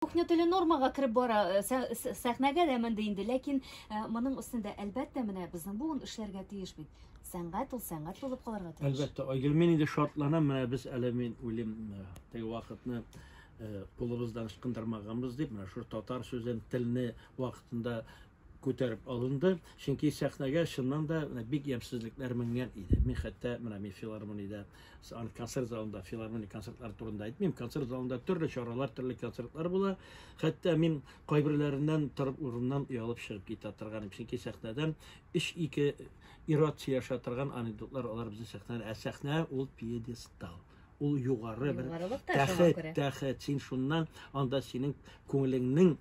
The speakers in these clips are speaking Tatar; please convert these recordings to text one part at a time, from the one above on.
Кухня теле нормага кереп бара, э, сәхнәгә дә менде инде, ләкин э, моның өстендә әлбәттә менә безнең буын эшләргә тиеш бит. Сәнгать ул сәнгать булып калырга тиеш. Әлбәттә, Айгөл, мин инде шатланам, менә без әле мин үлем э, теге вакытны кулыбыздан ычкындырмаганбыз дип, менә шул татар сүзен, телне вакытында күтәреп алынды, чөнки сәхнәгә чыннан да бик ямьсезлекләр менгән иде. Мин хәтта менә мин филармониядә, концерт залында, филармония концертлары турында әйтмим, концерт залында төрле чаралар, төрле концертлар була. Хәтта мин кайберләреннән торып урыннан оялып чыгып китә торган, чөнки сәхнәдән 3-2 ират сөйләшә торган анекдотлар алар безнең сәхнәдән, ә сәхнә ул пьедестал ул югары бер тәхет, тәхет. Син шуннан анда синең күңелеңнең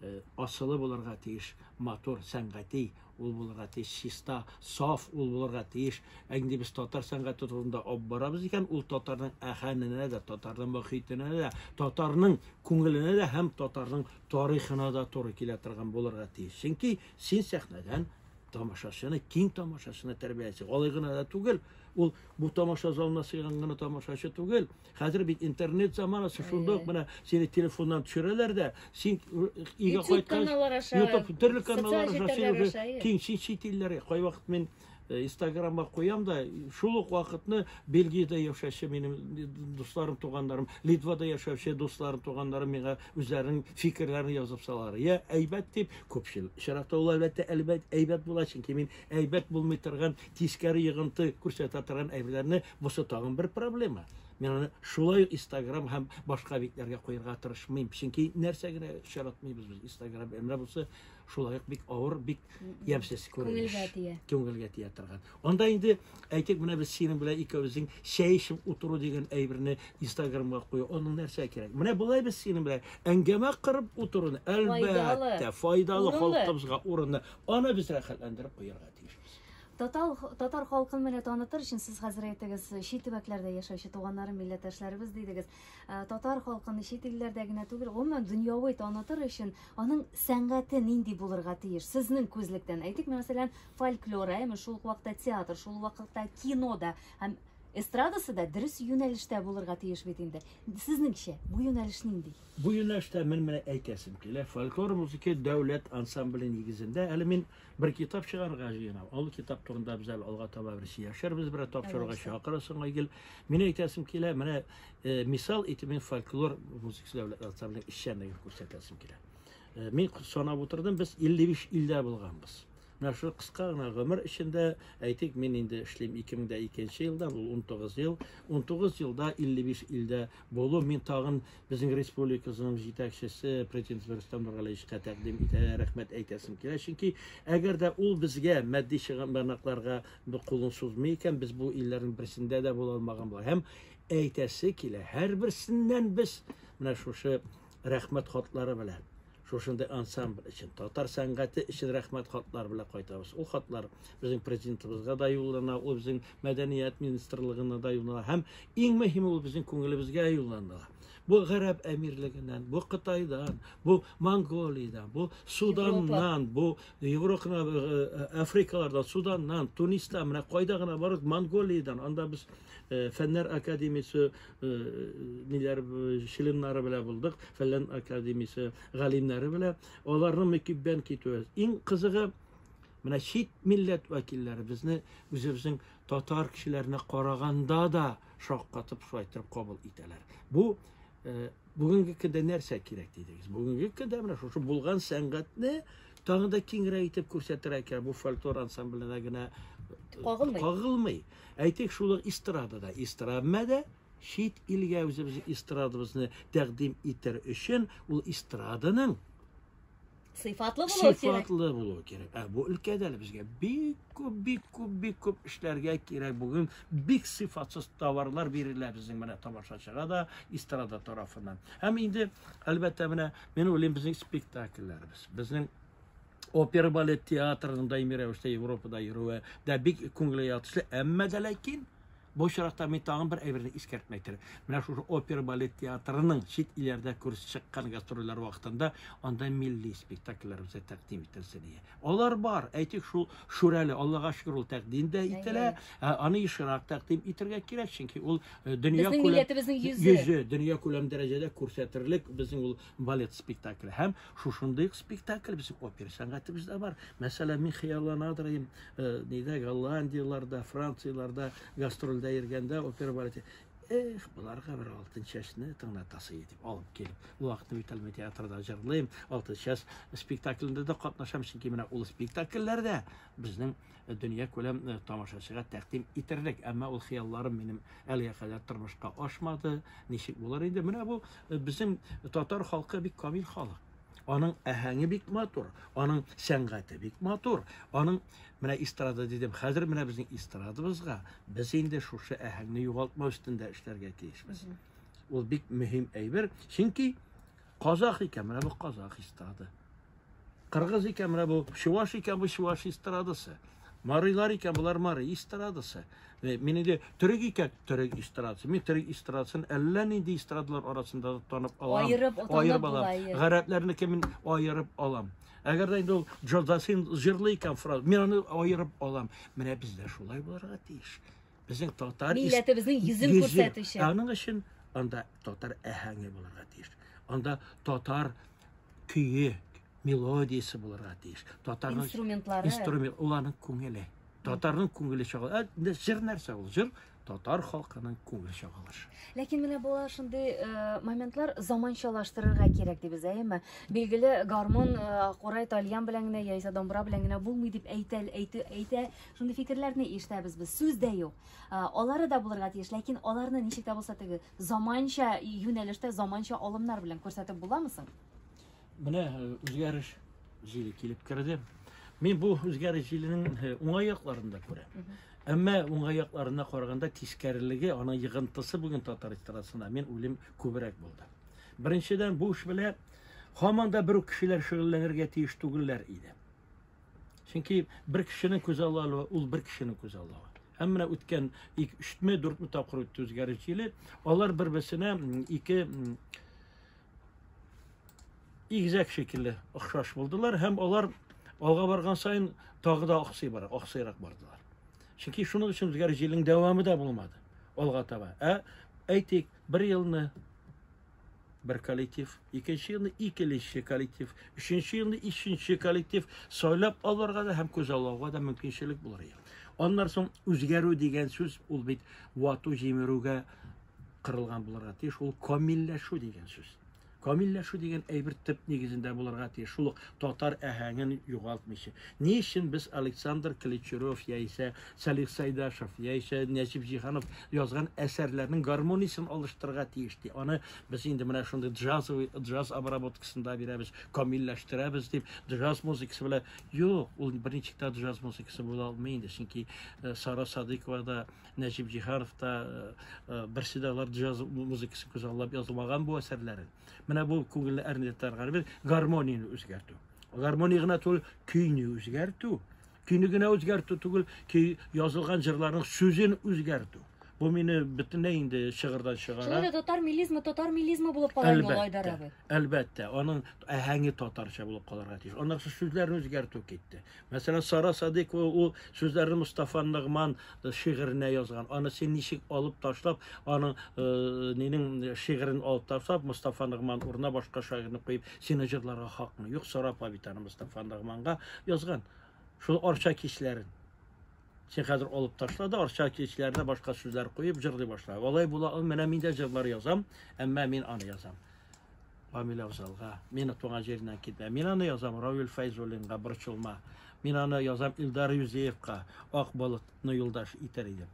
э, асылы булырга тиеш, матур, сәнгати ул булырга тиеш, чиста, саф ул булырга тиеш. Ә инде без татар сәнгате турында алып барабыз икән, ул татарның әһәненә дә, татарның мөхитенә дә, татарның күңеленә дә һәм татарның тарихына да туры килә торган булырга тиеш. Чөнки син сәхнәдән тамашачыны, киң тамашачыны тәрбияләйсең. Алай гына да түгел, ул бу тамаша залына сыйган гына тамашачы түгел, Хәзер бит интернет заманасы, шунда ук менә сине телефоннан төшерәләр дә, син өйгә кайткач, YouTube төрле каналлар аша син уже киң син чит илләргә. Кайвакыт мин э, Инстаграмга куям да, шул ук вакытны Бельгиядә яшәүче минем дусларым, туганнарым, Литвада яшәүче дусларым, туганнарым миңа үзләренең фикерләрен язып салалар. Я әйбәт дип, күпчел чираттагылар әлбәттә әйбәт, әйбәт була, чөнки мин әйбәт булмый торган тискәре йогынты күрсәтә торган әйберләрне бусы тагын бер проблема Мен аны шулай Instagram һәм башка битләргә куярга тырышмыйм. Чөнки нәрсә генә очратмыйбыз без Instagram. Әмма бусы шулай ук бик авыр, бик ямьсез күренеш. Күңелгә тия. Күңелгә тия торган. Анда инде әйтик, менә без синең белән икәүбезнең чәй эчеп утыру дигән әйберне Instagramга кую. Аның нәрсә кирәк? Менә болай без синең белән әңгәмә кырып утыруны әлбәттә файдалы халкыбызга урынны Аны без рәхәтләндереп куярга тиешбез. Татар, татар халкын менә танытыр өчен сез хәзер әйтегез, чит төбәкләрдә яшәүче туганнарым, милләттәшләребез дидегез. Э, татар халкын чит илләрдә генә түгел, гомумән дөньяви танытыр өчен аның сәнгате нинди булырга тиеш? Сезнең күзлектән әйтик, мәсәлән, фольклор, әме шул ук вакытта театр, шул ук вакытта кино да һәм эстрадасы да дөрес юнәлештә булырга тиеш бит инде. Сезнеңчә, бу юнәлеш нинди? Бу юнәлештә мен менә әйтәсем килә, фольклор музыкы дәүләт ансамбле нигезендә әле мин бер китап чыгарырга җыенам. Ул китап турында без әле алга таба бер сөйләшербез, берәр тапшыруга чакырырсың, Айгөл. Мин әйтәсем килә, менә э, мисал итеп мин фольклор музыкасы дәүләт ансамбле эшчәнлеген күрсәтәсем килә. Э, мин санап утырдым, без 55 илдә булганбыз. Менә шул кыска гына гомер эчендә, әйтик, мин инде эшлим 2002 елдан, ул 19 ел. 19 елда 55 илдә булу, мин тагын безнең республикабызның җитәкчесе президент Рөстәм Нургалиевичка тәкъдим итә, рәхмәт әйтәсем килә. Чөнки әгәр дә ул безгә матди чыганакларга кулын сузмый икән, без бу илләрнең берсендә дә була алмаган була. Һәм әйтәсе килә, һәрберсеннән без менә шушы рәхмәт хатлары белән Шушындый ансамбль өчен, татар сәнгате өчен рәхмәт хатлары белән кайтабыз. Ул хатлар безнең президентыбызга да юллана, ул безнең мәдәният министрлыгына да юллана һәм иң мөһиме ул безнең күңелебезгә юллана. Бу Гарәп әмирлегеннән, бу Кытайдан, бу Монголиядән, бу Суданнан, бу Европаны э, э, Африкалардан, Суданнан, Тунистан, менә кайда гына барып Монголиядән, анда без э, фәннәр академиясе ниләр членнары белән булдык, фәлән академиясе галимнәре белән. Аларның мөкиббән китүе. Иң кызыгы менә чит милләт вәкилләре безне үзебезнең татар кешеләренә караганда да шаккатып шулай итеп кабул итәләр. Бу бүгенге көндә нәрсә кирәк дидегез? Бүгенге көндә менә шушы булган сәнгатьне тагы да киңрәк итеп күрсәтергә кирәк. Бу фольклор ансамбленә генә кагылмый. Әйтик, шул ук эстрадада, эстрадмәдә чит илгә үзебезнең эстрадабызны тәкъдим итәр өчен ул эстраданың сыйфатлы булу кирәк. Сыйфатлы булу кирәк. Ә бу өлкәдә лә безгә бик күп, бик күп, бик күп эшләргә кирәк. Бүген бик сыйфатсыз товарлар бирелә безнең менә тамашачыга да, эстрада тарафыннан. Һәм инде, әлбәттә, менә мин уйлыйм, безнең спектакльләребез, безнең опера балет театрының даими рәвештә Европада йөрүе дә бик күңелгә ятышлы, әмма дә ләкин бу очракта мин тагын бер әйберне искәртмә итәрем. Менә шушы опера балет театрының чит илләрдә күрсәтеп чыккан гастрольләр вакытында анда милли спектакльләр үзе тәкъдим ителсен дия. Алар бар, әйтик шул Шүрәле, Аллага шөкер ул тәкъдим дә ителә. Ә, Аны ешрак тәкъдим итәргә кирәк, чөнки ул э, дөнья Безнең күләм- милләтебезнең йөзе. йөзе дөнья күләм дәрәҗәдә күрсәтерлек безнең ул балет спектакле һәм Шушындый ук спектакль безнең опера сәнгатебездә бар. Мәсәлән, мин хыяллана торыйм, э, нидә Голландияләрдә, Францияләрдә гастрольдә йөргәндә опера бар ди. Эх, боларга бер алтын чәчне тыңлатасы итеп алып килеп, вакытны битәлмә театрда җырлыйм, алтын чәч спектаклендә дә катнашам, чөнки менә ул спектакльләрдә безнең э, дөнья күләм э, тамашачыга тәкъдим итерлек. Әмма ул хыялларым минем әлегә кадәр тормышка ашмады. Ничек булыр инде? Менә бу э, безнең татар халкы бик камил халык. Аның әһәңе бик матур, аның сәнгате бик матур, аның менә эстрада дидем. Хәзер менә безнең эстрадабызга без инде шушы әһәңне югалтмау өстендә эшләргә тиешбез. Ул бик мөһим әйбер, чөнки Казах икән, менә бу казах эстрады. Кыргыз икән, менә бу чуваш икән, бу чуваш эстрадасы. Марыйлар икән, болар мары эстрадасы. Мин инде төрек икән, төрек эстрадасы. Мин төрек эстрадасын әллә нинди эстрадалар арасында да танып алам. Айырып, айырып алам. Гарәпләрнеке мин айырып алам. Әгәр дә инде ул Джозасин җырлый икән фраз, мин аны айырып алам. Менә бездә шулай булырга тиеш. Безнең татар милләтебезнең йөзен күрсәтүче. Аның өчен анда татар әһәңе булырга тиеш. Анда татар көе, мелодиясе булырга тиеш. Татарның инструментлары. Инструмент уларның күңеле. Татарның күңеле чагыла. Ә җыр нәрсә ул? Җыр татар халкының күңел чагылышы. Ләкин менә була шундый э, моментлар заманчалаштырырга кирәк дибез, әйеме? Билгеле, гармон, э, курай, тальян белән генә яисә домбра белән генә булмый дип әйтә, әйтә, әйтә Шундый фикерләрне ишетәбез без. Сүз дә юк. Алары да булырга тиеш, ләкин аларны ничек тә булса теге заманча юнәлештә, заманча алымнар белән күрсәтеп буламы соң? Менә э, үзгәреш җиле килеп керде. Мин бу үзгәреш җиленең э, уңай якларын да күрәм. Әмма уңай якларына караганда тискәрелеге, ана йыгынтысы бүген татар эстрадасында мин үлем күбрәк булды. Беренчедән, бу эш белән һаман да бер үк кешеләр шөгыльләнергә тиеш түгелләр иде. Чөнки бер кешенең күз аллавы ул бер кешенең күз аллавы. Һәм менә үткән 3-ме, 4-ме тапкыр үтте үзгәреш җиле. Алар бер-берсенә ике игезәк шикелле охшаш булдылар һәм алар алга барган саен тагы да аксый бара, аксыйрак бардылар. Чөнки шуның өчен үзгәреш җилнең дәвамы да булмады алга таба. Ә әйтик, бер елны бер коллектив, икенче елны икенче коллектив, өченче елны өченче коллектив сайлап алырга да һәм күзаллауга да мөмкинчелек булыр иде. Аннан соң үзгәрү дигән сүз ул бит вату җимерүгә кырылган булырга тиеш, ул камилләшү дигән сүз. Камилләшү дигән әйбер төп нигезендә булырга тиеш, шул татар әһәңен югалтмыйча. Ни өчен без Александр Кличуров яисә Салих Сайдашев яисә Нәҗип Җиһанов язган әсәрләрнең гармониясен алыштырырга тиеш ди. Аны без инде менә шундый джазовый джаз обработкасында бирәбез, камилләштерәбез дип, джаз музыкасы белән. Юк, ул берничек тә джаз музыкасы була алмый инде, чөнки э, Сара Садыйкова да, Нәҗип Җиһанов та э, э, берсе дә алар джаз музыкасы күзаллап язылмаган бу әсәрләре. Менә бу күңелне әрнетәргә гармонияне үзгәртү. Гармония гына түгел, көйне үзгәртү. Көйне генә үзгәртү түгел, көй язылган җырларның сүзен үзгәртү. Бу мине бөтенләй инде чыгырдан чыгара. Шулай да татар милизмы, татар милизмы булып кала инде ул Айдар абый. Әлбәттә, аның әһәңе татарча булып калырга тиеш. Аннан соң сүзләрне үзгәртү китте. Мәсәлән, Сара Садыйкова ул сүзләрне Мустафа Нигман э, шигыренә язган. Аны син ничек алып ташлап, аның э, нинең шигырен алып ташлап, Мустафа Нигман урынына башка шагыйрьне куеп, Сине җырларга хакмы юк, сорап Абитаныбыз Тафан Рахманга язган шул Арча кичләрен. Син хәзер алып ташла да Арча кичләренә башка сүзләр куеп җырлый башла. Алай була, менә мин дә җырлар язам, әмма мин аны язам. Камил Афзалга, мин туган җиреннән китә. Мин аны язам Равил Файзуллинга борчылма. Мин аны язам Илдар Юзеевка, Ак болытны юлдаш итәр идем.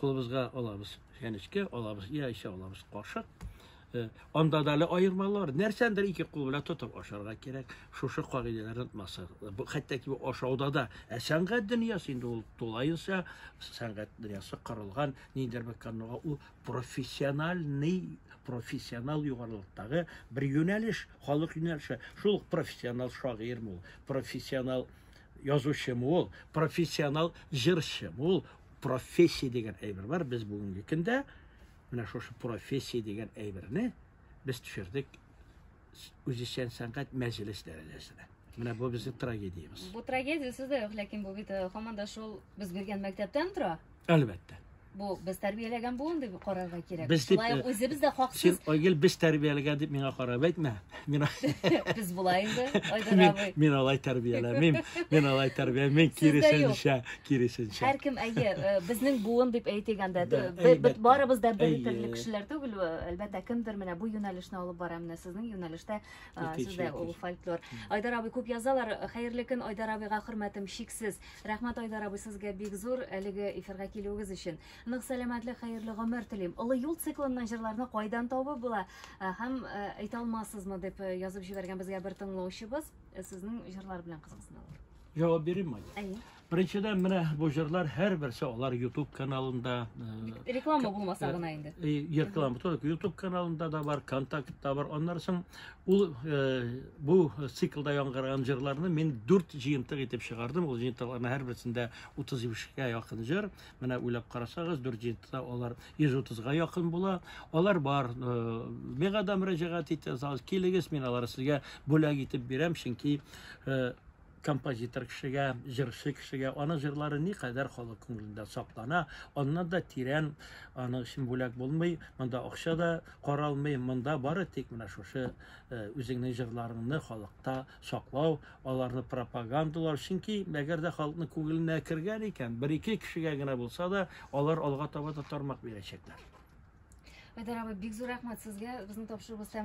кулыбызга алабыз чәнечкә алабыз яисә алабыз кашык э, анда да әле аермалар нәрсәндер ике кул белән тотып ашарга кирәк шушы кагыйдәләрне онытмасак хәтта ашауда да ә сәнгать дөньясы инде ул тулаенча сәнгать дөньясы корылган ниндидер бер канунга ул профессиональный профессионал югарылыктагы бер юнәлеш халык юнәлеше шул профессионал шагыйрьме ул профессионал язучым ул, профессионал җырчым ул. Профессия дигән әйбер бар. Без бүгенге көндә менә шушы профессия дигән әйберне без төшердек үзешчән сәнгать мәҗлес дәрәҗәсенә. Менә бу безнең трагедиябез. Бу трагедия сездә юк, ләкин бу бит э, хаманда шул без биргән мәктәптән тора. Әлбәттә. Бу без тәрбияләгән буын дип карарга кирәк. Без дип, Шулай ук э, үзебез дә хаксыз. Син Айгел без тәрбияләгән дип миңа карап әйтмә. Мин без болай инде Айдар абый. Мин алай тәрбияләмим. Мин алай тәрбияләмим. Мин киресенчә, киресенчә. Һәркем әйе, э, безнең буын дип әйтегәндә бит барыбыз да бер төрле кешеләр түгел, э, әлбәттә кемдер менә бу юнәлешне алып бара, менә сезнең юнәлештә сездә ул фольклор. Айдар абый күп язалар. Хәерле көн Айдар абыйга хөрмәтем чиксез. Рәхмәт Айдар абый сезгә бик зур әлеге эфирга килүегез өчен. Нык сәламәтлек, хәерле гомер телим. Олы юл циклыннан җырларны кайдан табып була э, һәм э, әйтә алмассызмы дип э, язып җибәргән безгә бер тыңлаучыбыз сезнең җырлар белән кызыксыналар. Җавап бирим май. Әйе. Беренчедән менә бу җырлар һәрберсе алар YouTube каналында реклама булмаса гына инде. Реклама, YouTube каналында да бар, контактта бар. Аннары соң Ул бу циклда яңгыраган җырларны мин дүрт җыентык итеп чыгардым. Ул җыентыкларның һәрберсендә 35-кә якын җыр. Менә уйлап карасагыз, дүрт җыентыкта алар 130-га якын була. Алар бар. Миңа да мөрәҗәгать итә, килегез, мин алар сезгә бүләк итеп бирәм, чөнки композитор кешегә, җырчы кешегә аның җырлары никадәр халык күңелендә саклана, аннан да тирән аның өчен бүләк булмый, монда акча да каралмый, монда бары тик менә шушы э, үзеңнең җырларыңны халыкта саклау, аларны пропагандалау, чөнки әгәр дә халыкның күңеленә кергән икән, бер-ике кешегә генә булса да, алар алга таба да тармак бирәчәкләр. Айдар абый, бик зур рәхмәт сезгә. Безнең тапшыруыбыз тәмам.